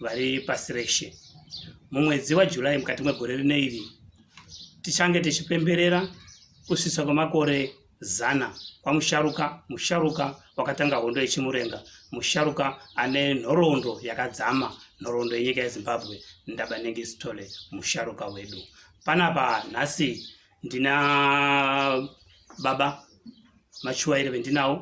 vari pasi reshe. Mumwedzi waJuly mukati megore rino iri tichange tichipemberera kusvitsa kwemakore zana kwamusharuka musharuka wakatanga hondo yechimurenga musharuka ane nhoroondo yakadzama nhoroondo yenyika yezimbabwe ndabanenge sitole musharuka wedu panapa nhasi ndina baba machuwa ere vendinawo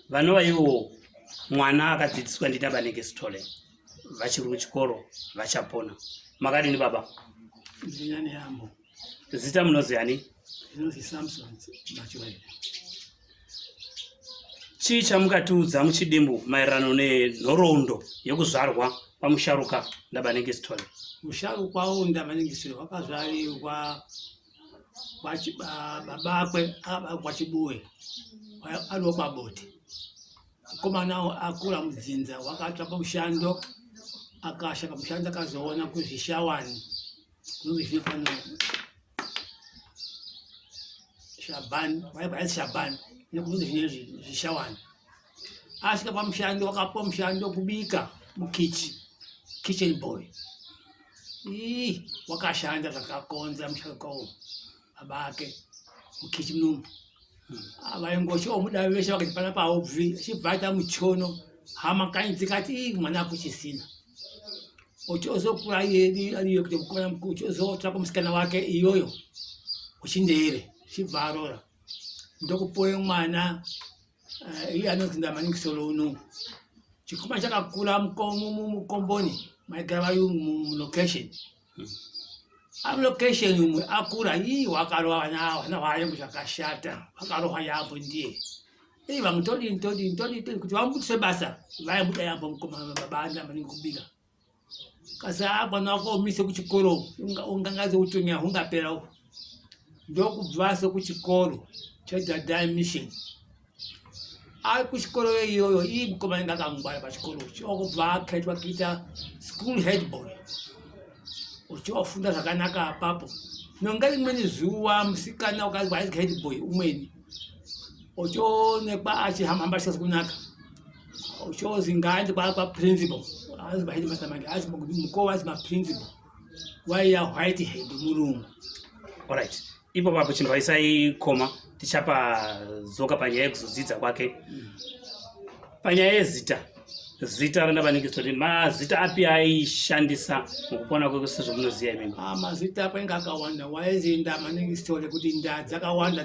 vanova ivo mwana akadzidziswa ndina vanenge sitole vachiri kuchikoro vachapona makadini baba zita munoziani samson machuwa ere chii chamukatiudza muchidimbu maererano nenhoroondo yekuzvarwa kwamusharuka ndabanengisitol musharukwa wo ndabanengisitol wakazvarirwa babakwe akabakwa chibuwe ariwo kwabote mukomana akura mudzinza wakatsva pamushando akasha pamushando akazoona kuzvishawani shabhani vaibhaisi shabhani nekuti zvine zvishawani asvika pamushando wakapiwa mushando wekubika mukichi kitchen boy ii wakashanda zvakakonza mushando kwawo baba ake mukichi munomu ah, vaingosho omudavi veshe vakati pana paobvi achibva aita muchono hama kanyi dzikati ii mwana akuchisina uchozokura iyoyo kuti kukona uchozotsvaka musikana wake iyoyo uchindeere chibva arora ndokupoye mwana eh, iye anozvinda maningi solo uno chikuma chakakura mukomboni maigara vayungu mulocation Allocation umwe akura ii wakarohwa na wayangu zvakashata wakarohwa yambo ndiye ii vamwe todini todini todini todini kuti vamubudise basa vaibuda yambo mukoma baba anda maningi kubika kasi a mwana wako umise kuchikoro ungangaze utonya hungapera uhu ndokubvaso kuchikoro chedadai mission ari kuchikoro iyoyo ii mukomana inga akangwara pachikoro chokubva akaitwa kuita school headboy uchiofunda zvakanaka apapo nonga rimweni zuva musikana ukanzwa aizwa headboy umweni uchoonekwa achihambahamba chikazi kunaka uchozi ngaandi kwaakwa principal azi mahedimasta manje azi mukova azi maprinciple waiya white head murungu alright ipo papo chinhu vaisaikoma tichapa zoka panyaya yekuzodzidza kwake mm. panyaya yezita zita rona vanenge toti mazita api aishandisa mukupona kweko sezvomunoziva imimi ah, mazita apo inge akawanda waenziinda maningi sitore kuti nda dzakawanda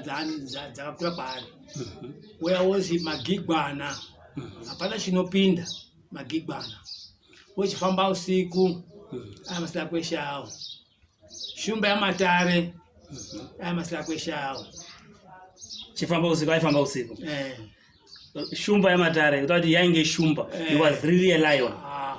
dzakakura kwaari mhm. uya wozi magigwana mhm. hapana chinopinda magigwana uchifamba usiku aya masira kweshe awo shumba yamatare aya masira kweshe awo chifamba usiku aifamba usiku eh. shumba yamatare kuta kuti yainge shumba eh. he was really a lion ah.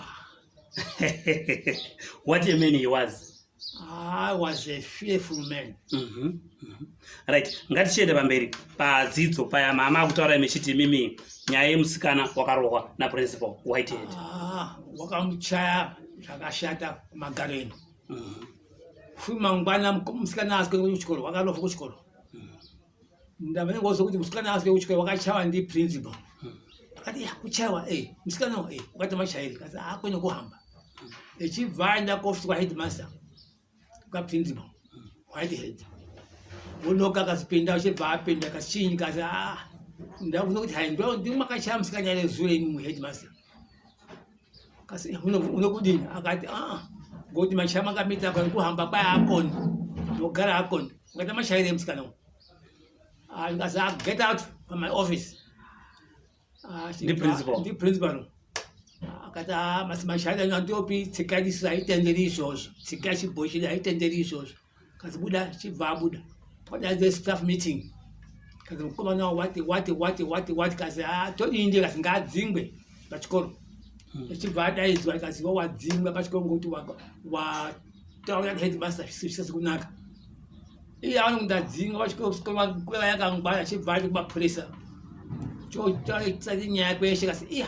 what a man he was I was a fearful man. Mm -hmm. Mm -hmm. Right, ngatichienda pamberi padzidzo paya mama akutaura mechiti mimi nyaya yemusikana wakarohwa naprincipal whitehead. Ah, wakamuchaya zvakashata kumagaro eno. Mm -hmm. Futi mangwana musikana asiko kuchikoro, wakanofa kuchikoro. ndamene ngozo kuti musikana asike kuchikoro wakachawa ndi principal akati ya kuchawa eh musikana eh ukati machairi kasi akwenye kuhamba echibva aenda kuofisi kwa headmaster kwa principal white head unoka akazipinda uchibva apinda kachinyi kasi ah ndakuona kuti hai ndo ndimakachaya musikana ere zure imi mu headmaster kasi eh, unokudini akati aa ngokuti mashaya makamita kani kuhamba kwaya akoni ndogara akoni ungaita mashaire musikana uyu ah, ndikasi ah, get out from my office ah, ndiprincipal akati aa mashaya andopi tsika isu haitenderi izvozvo tsika chibhochidi haitenderi izvozvo kazibuda chibva abuda padaidze staff meeting kazi mukomana wati wati wati wati wati kazi ah, todii ndiye kazi ngaadzingwe pachikoro achibva hmm. adaidzwa kazi wa wadzingwa pachikoro ngokuti wataura headmaster zvisisi kunaka iye aona kuti adzinga pachikoro yakangwara achibva ati kumapurisa chotaura nyaya kweshe kasi iya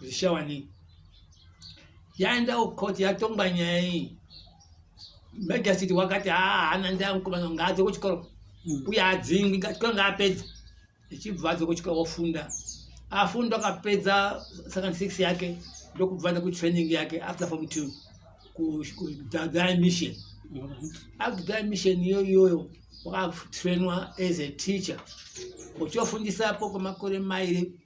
zvishawa nei yaendawo court yatongwa nyaya iyi magistrate wakati haana ah, ndaa mukomana ngaadze kuchikoro hmm. uye adzingwi chikoro ngaapedza ichibva adze kuchikoro ofunda afunda akapedza second six yake ndokubvana kutraining yake after form two kudhadhaa mission akudhadhaa mission iyo iyoyo wakatrainwa as a teacher uchiofundisapo kwemakore mairi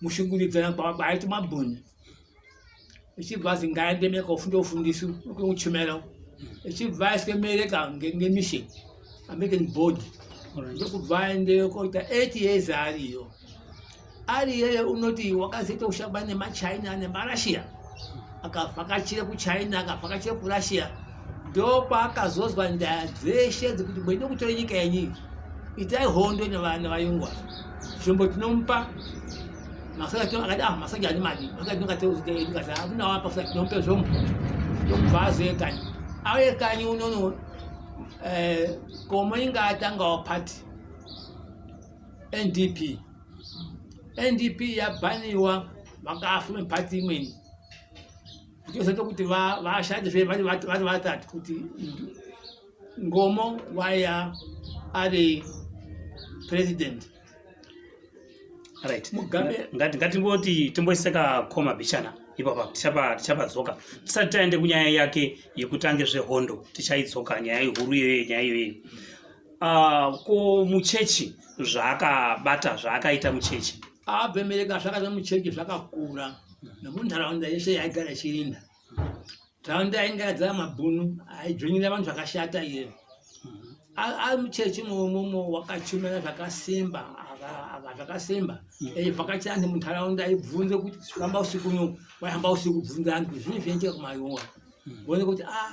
mushungurudzana kwaiti mabhoni ichibva azi ngaende meka ufunda ufundisi kwekuchimera ichibva aiswe mereka ngemishe american board ndokubva aendeyo koita eight years ariyo ari yeye unoti wakazoita ushamba nemachina nemarussia akavhakachira kuchina akavhakachira kurussia ndopaakazozwa nyaya dzeshe dzekuti mweide kutora nyika yenyii itai hondo nevana vayungwa zvombo tinomupa masaakadamasaji ah, ani madi akatingateaunawapa sa tinompe zvombo ndokubvazoe kanyi aye kanyi unono eh, komo inga atangawo party ndp ndp yabhaniwa vakafume pati imweni ndizoita kuti vashande zve vari vatatu kuti ngomo waya ari president right mugabe ngati ngatimboti timboiseka koma bichana ipapa tichapa tichapadzoka tisati taende kunyaya yake yekutanga zvehondo tichaidzoka nyaya ihuru iyoyo nyaya iyoyo uh, ko muchechi zvaakabata zvaakaita muchechi abemereka zvakaita muchechi zvakakura nomunharaunda yese yaigara ichirinda nharaunda yainge yadzara mabhunu aidzvonyera vanhu zvakashata iye ari muchechi momomo wakachumira zvakasimba zvakasimba eivhakachira anhu munharaunda aibvunze kuti famba usiku uno waihamba usiku bvunza anhu kuti zvine zvinoitika kumayora vone kuti a ah,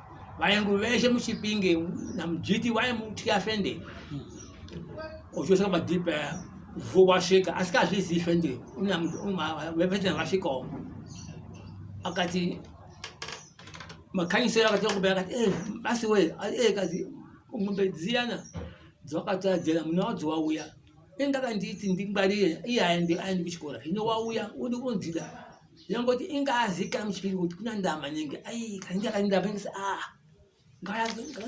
vaengu veshe muchipinge namujiti waye mutya fende ochosa madipa vuo wasvika asi kazvizi fende vepetena vasvikawo akati makanyisero akati okubea akati eh, basi we eh, kazi ngombe dziyana dzawakatadzera muna wadzo wauya engakanditi ndingwarire iye aendi kuchikora hino wauya udi kunzida Yangoti inga azika mchipiri kuti kuna ndama nyingi. Ai kainga kainda bengisa ah.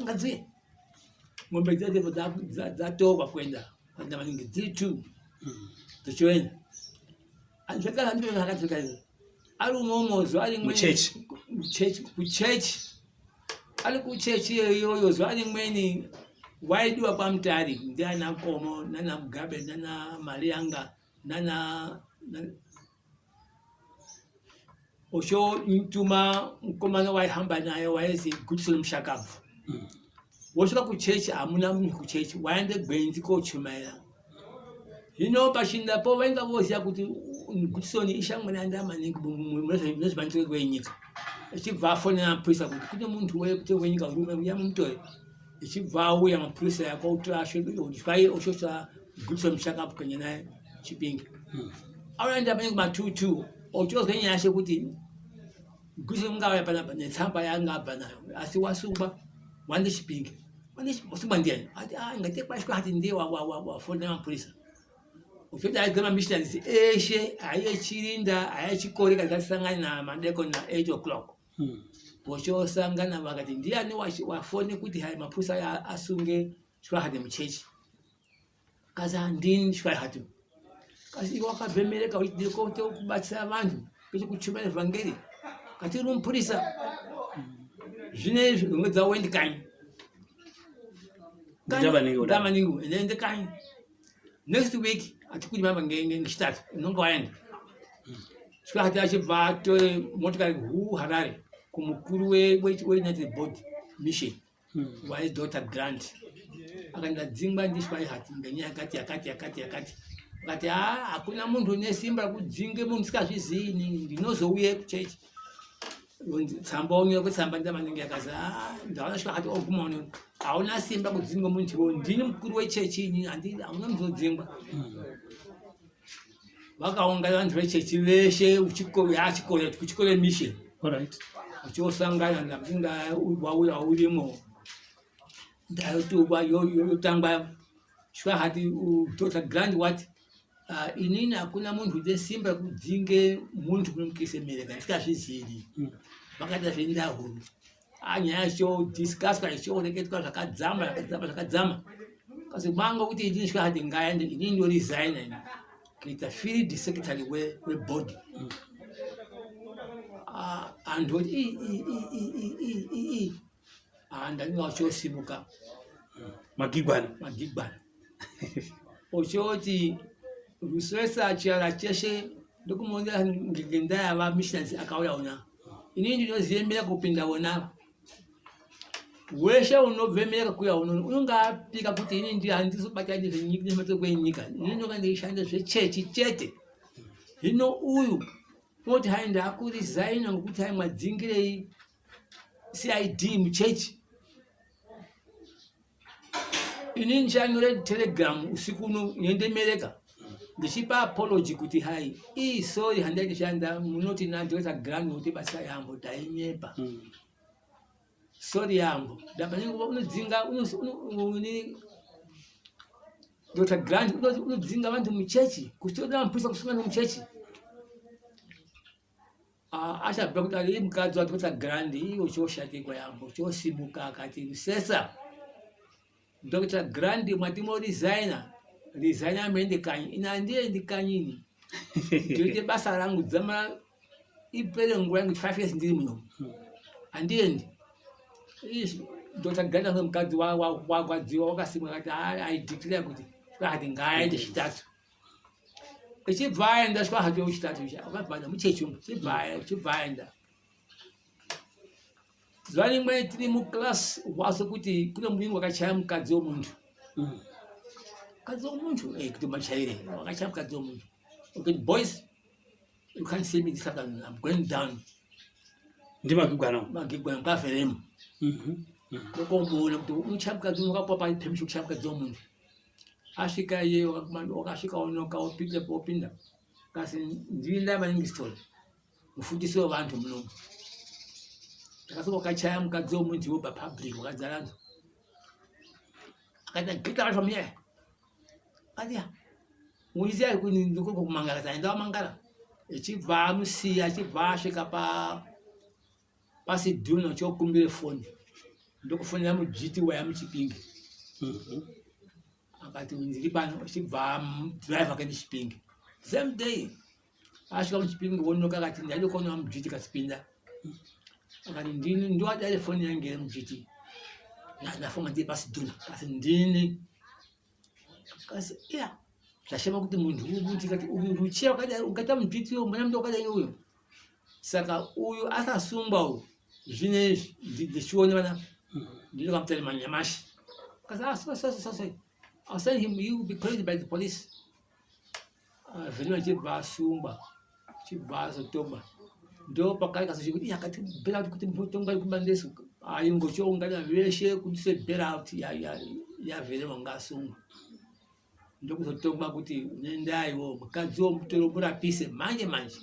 Ngazuye. Ngombe dzake dzatoka kwenda kwenda maningi dziri two. Hmm. Tochoenda. Anjaka ndio akatoka hiyo. Ari umomo zuwa rimwe. Muchechi. Muchechi. Muchechi. Ari kuchechi yoyo zuwa rimweni waidiwa kwa mtari ndiana komo nana mugabe nana mari yanga nana oshomutuma mukomana waihamba naye wainzi gutisoni mushakabvu mm. wosvika kuchechi hamuna munhu kuchechi waende gwenzi kochumaira zvino pachindapo vainga voziva kuti gutisoni ishamwana yanda maningi munezvemanitiro rwenyika achibva afonera mapurisa kuti kune munhu wekuti wenyika urume uya mumutore ichibva auya mapurisa yakauti asvedai oshosa gutsa mushakabvu kanye naye chipinge hmm. auyaenda panenge matutu ochozwa nyaya yashe kuti gutsa mungauya panapa netsamba yanga abva nayo asi wasungwa wande chipinge wasungwa ndiani ati ah, ngatekwashwa ati ndiye wafonda mapurisa uchoti aigama missionaries eshe aiye chirinda aiye chikori kagasangana namadekoni na 8 o'clock hmm. vochosangana vakati ndiani wafone kuti hai mapusa aya asunge shwahate muchechi kasi handini shwahate kasi iwe wakabhemereka uchidiri kote kubatsira vanhu kwete kuchuma evhangeri kati uri mupurisa zvine izvi unge dzawendi kanyi ndamaningi ende kanyi next week hatikudi mama ngechitatu unonge waenda sika hati achibva atore motikari hu harare kumukuru weunited board mission hmm. waye dota grant akaenda dzingwa ndiswai hati ngenyaya yakati yakati yakati yakati akati ha hakuna munhu une simba rekudzinge munhu sikazvizii inini ndinozouye kuchechi tsamba unyore kutsamba nda vanenge yakazi ah, ndaona shwa kati oguma uno hauna simba kudzingwa munhu chivo ndini mukuru wechechi ini hauna muzodzingwa vakaungana vanhu vechechi veshe yachikore kuchikore mission uchiosangana ndainga wauya urimo ndayotukwa yotangwa Shuwa hati Dr. Grant wati uh, inini hakuna munhu une simba kudzinge munhu kunomukise mereka ndikazvizivi mm. vakaita zvendahuru ah, nyaya ichodiscusswa ichioreketwa zvakadzama zvakadzama zvakadzama kasi kwanga kuti inini shuwa hati ngaende inini ndoresigna ini kuita field secretary webody mm. ah, anhu oti ah, ndainge wachosimuka magigwana magigwana ochoti rusesa chiara cheshe ndokumuonera ngendaa yava missions akauya una inini ndinoziyemera kupinda wona weshe unobve mera kuya unono unonge apika kuti ini ndi handizobata nezvematoko enyika ini ndonga ndeishanda zvechechi chete hino uyu moti hai ndakurizaina ngokuti hai mwadzingirei cid muchechi ini ndichanyore telegram usiku uno nyendemereka ndichipa apology kuti hai ii sorry handai tishanda munoti najosa grand kuti basa yambo tainyepa mm. sorry yambo ndapanyenguva unodzinga dr grand unodzinga vantu muchechi kusiona mapurisa kusungana muchechi achabva kuti ari mukadzi wati kuti grand iwo choshatikwa yambo chosimuka akati rusesa dr grand mwati mo resigner resigner mende kanyi ini handiye ndi kanyini ndoite basa rangu dzama ipere nguva yangu five years ndiri muno handiendi dr grand anomukadzi wakwadziwa wakasimwa kati i declare kuti kati ngaaende chitatu ichibva aenda swa hake uchitatu akabvana muchechi umu chibva aenda zuva rimwe tiri muclass waso kuti kune mudini wakachaya mukadzi womuntu mm. mukadzi womuntu eh, kuti machaire wakachaya mukadzi womuntu okay boys you can't see me this afternoon i'm going down ndi magigwana magigwana mukaferemu ndokomboona mhm, mhm. kuti uchabuka dzi wakapwa pa permission kuchabuka dzi omuntu asvika iye wakasvika unoka opindepo opinda kasi ndiri ndava ingistol mufundisi wevanhu munomu ndakasvika wakachaya mukadzi womunhu iwo papublic wakadzara nzo akaita get out from here katiya muisi ari kuni ndikoko kumangara saenda wamangara echibva amusiya achibva asvika pa pasi dhuna chokumbira foni ndokufonera mudzviti waya muchipinge mhm. akati ndiri pano chibva drive akaenda chipinge same day asvika muchipinge wonoka akati ndaidokona mudzviti kasipinda akati ndini ndiwadare foni yange iri mudzviti ndafunga ndiri pasi dhuna kasi ndini kasi ya zvashema kuti munhu uyu kuti uchiya wakadai ukaita mudzviti uyo mwana mndu wakadai uyo saka uyu akasungwa uyu zvinezvi ndichione vana ndinoda kamutari manyamashi asai him he will be called by the police ah, vhino achibva asungwa chibva azotoba ndo pakai kasochekuti yakati bela kuti mutongai kubandesu aingochoungana veshe kuti se bela out yavhere vanga asungwa ndokuzotongwa kuti unoendaiwo mukadzi womutoro murapise manje manje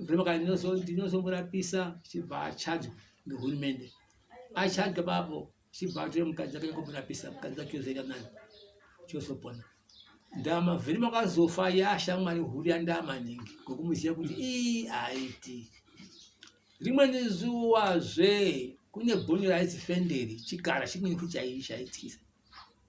mvema kana ndinozomurapisa chibva achadzwa ngehurumende achadzwa bapo chibva atore mukadzi akanyanga kumurapisa mukadzi wacho ozoita nani chozopona ndama vhiri makazofa yashamwari huru yandaa maningi ngokumuziva kuti ii haiti rimweni zuva zve kune bhoni raizifenderi chikara chimweni kuchaiyi chaityisa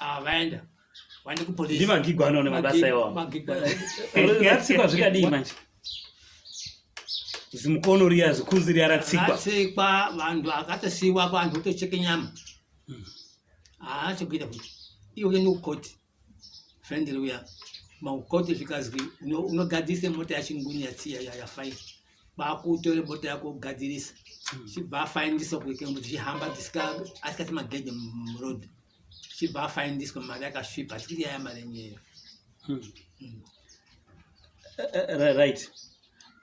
Ah, vaenda. Vaenda ku police. Ndima ngigwa anone mabasa iwawo. Magigwa. Yatsikwa zvikadii manje? Zimukono riya zikuzi riya ratsikwa. Ratsikwa vanhu akatosiwa vanhu kutocheke nyama. Hmm. Ah, chokuita kuti. Iwe uende kukoti. Friend riya. Makukoti zvikazwi unogadzise mota yachinguni yatsiya yafaini. Bakutore mota yako kugadzirisa. Hmm. Chibva afainisa kuike kuti chihamba asikasimagedhe muroad. chibva afaindiswa mari yakasvipa tiri yaya mari enyeyo hmm. hmm. eh, eh, right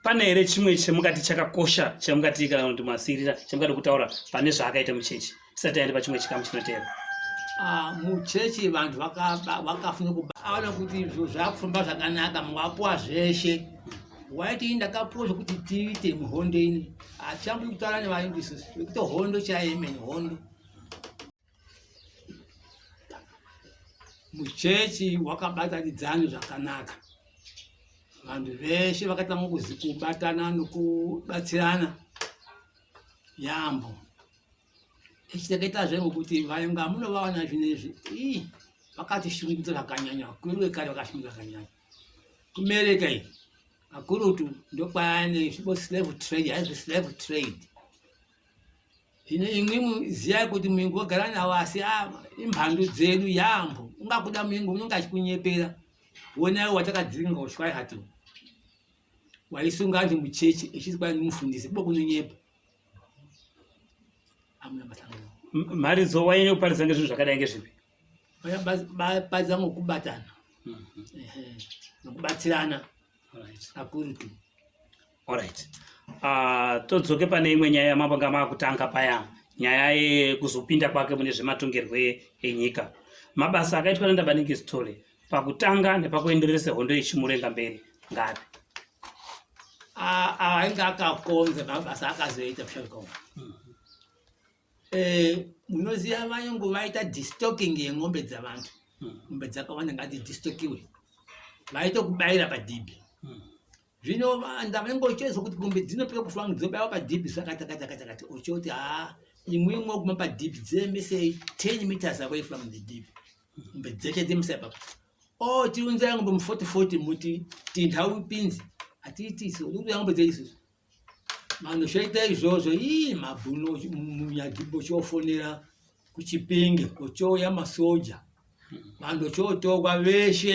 pane here chimwe chamukati chakakosha chamukati kana kuti masirira chamukati kutaura pane zvaakaita muchechi tisati aende pachimwe chikamu chinoteera ah, muchechi vanhu vakafuna kubaona kuti zvo zvakufamba zvakanaka mwapuwa zveshe waiti ii ndakapuwa zvekuti tiite muhondo ini hatichambiri kutaura nevaindisi vekuti hondo chaemene hondo muchechi wakabatanidzana zvakanaka vanhu veshe vakatanga kubatana nokubatsirana yaambo echiteketazve ngokuti vainga munovaona zvinezvi ii vakatishungudza zvakanyanya vakuru vekare vakashungudza zvakanyanya kumereka iyi kakurutu ndokwayane zvibo slave trade haizvi slave trade Zvino imwi muziya kuti muingo wagara nawo asi ah, imhandu dzedu yaambo. Ungakuda muingo unenge achikunyepera. Wonayo watakadziringa ushwai hatu. Waisunga antu muchechi echiti kwai mufundisi kubo kunonyepa. Amuna matanga. Mharidzo wainyanya kuparidza ngezvinhu zvakadai ngezvipi? Paridza ngokubatana. Mhm. Nokubatsirana. Right. Akurutu. Alright. Uh, todzoke pane imwe nyaya yamabanga makutanga paya nyaya yekuzopinda kwake mune zvematongerwo enyika mabasa akaitwa nandabaningi zitole pakutanga nepakuenderese hondo yechimurenga mberi ngapi ainge akakonze mabasa akazoita pshakom mm-hmm. eh, munoziva vayungu vaita distocking yeng'ombe dzavantu mm-hmm. ng'ombe dzakawanda ngati distokiwe vaitokubaira padhibhi zvino ndavenga uchiedza kuti mombe dzinopiwa kufangu dzinobaiwa padhibhi zvakatakatakatakati uchoti haa imwe imwe kuma padhibhi dzirembesei ten meters ako ifangu dzidhibhi mombe dzeshe dzemisa ipapo o oh, tiunzai ngombe muforty forty muti tindhau pinzi hatiiti isu unzai ngombe dzeisusu vanhu zvoita izvozvo ii mabhuno munyadhibho chofonera kuchipinge kochouya masoja vanhu chotokwa veshe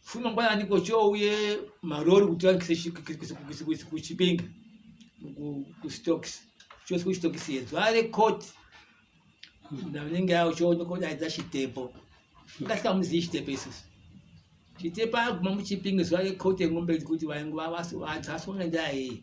Fuma ngwa ani ko cho uye marori kuti wa kisi kisi kisi kisi kuchipinga ku ku stocks cho ku stocks yedzo ale court na ninge yao cho ndiko da za chitepo ngasika muzi chitepo isu chitepo aguma muchipinga zwa le court ngombe kuti wa ngwa wasu wa tsaso ngenda yeye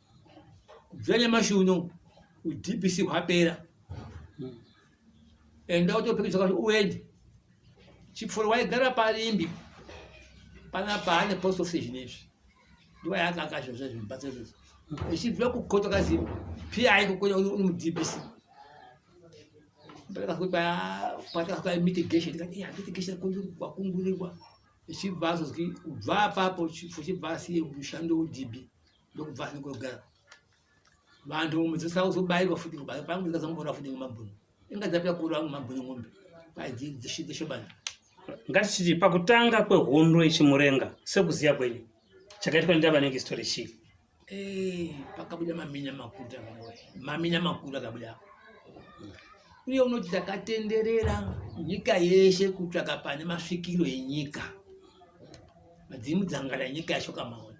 kubvira nyamashi uno udbc hwapera enda utopikisa kuti uende chipfuro waigara parimbi pana paane post office zvinezvi ndiwa yaakakasha zve zvimubatsa izvozvo echibvira kukota kazi pi aikokonya uri mudbc patakakupa mitigation tikati iya mitigation kwakungurirwa echibva azozwi kubva apapo chipfuro chibva asiye mushando udb ndokubva ndikogara vantu mudzisa uzobairwa futi kubairwa pangu ndikazamubora futi ngemabhunu inga dzapya kuru angu mabhunu ngombe paidzishobana ngatichiti pakutanga kwehondo yechimurenga sekuziya kwenyu chakaitwa ndava nenge story chii eh, pakabuda maminya makuru maminya makuru akabuda uye unoti takatenderera nyika yeshe kutsvaka pane masvikiro enyika madzimu dzangara nyika yacho kamaona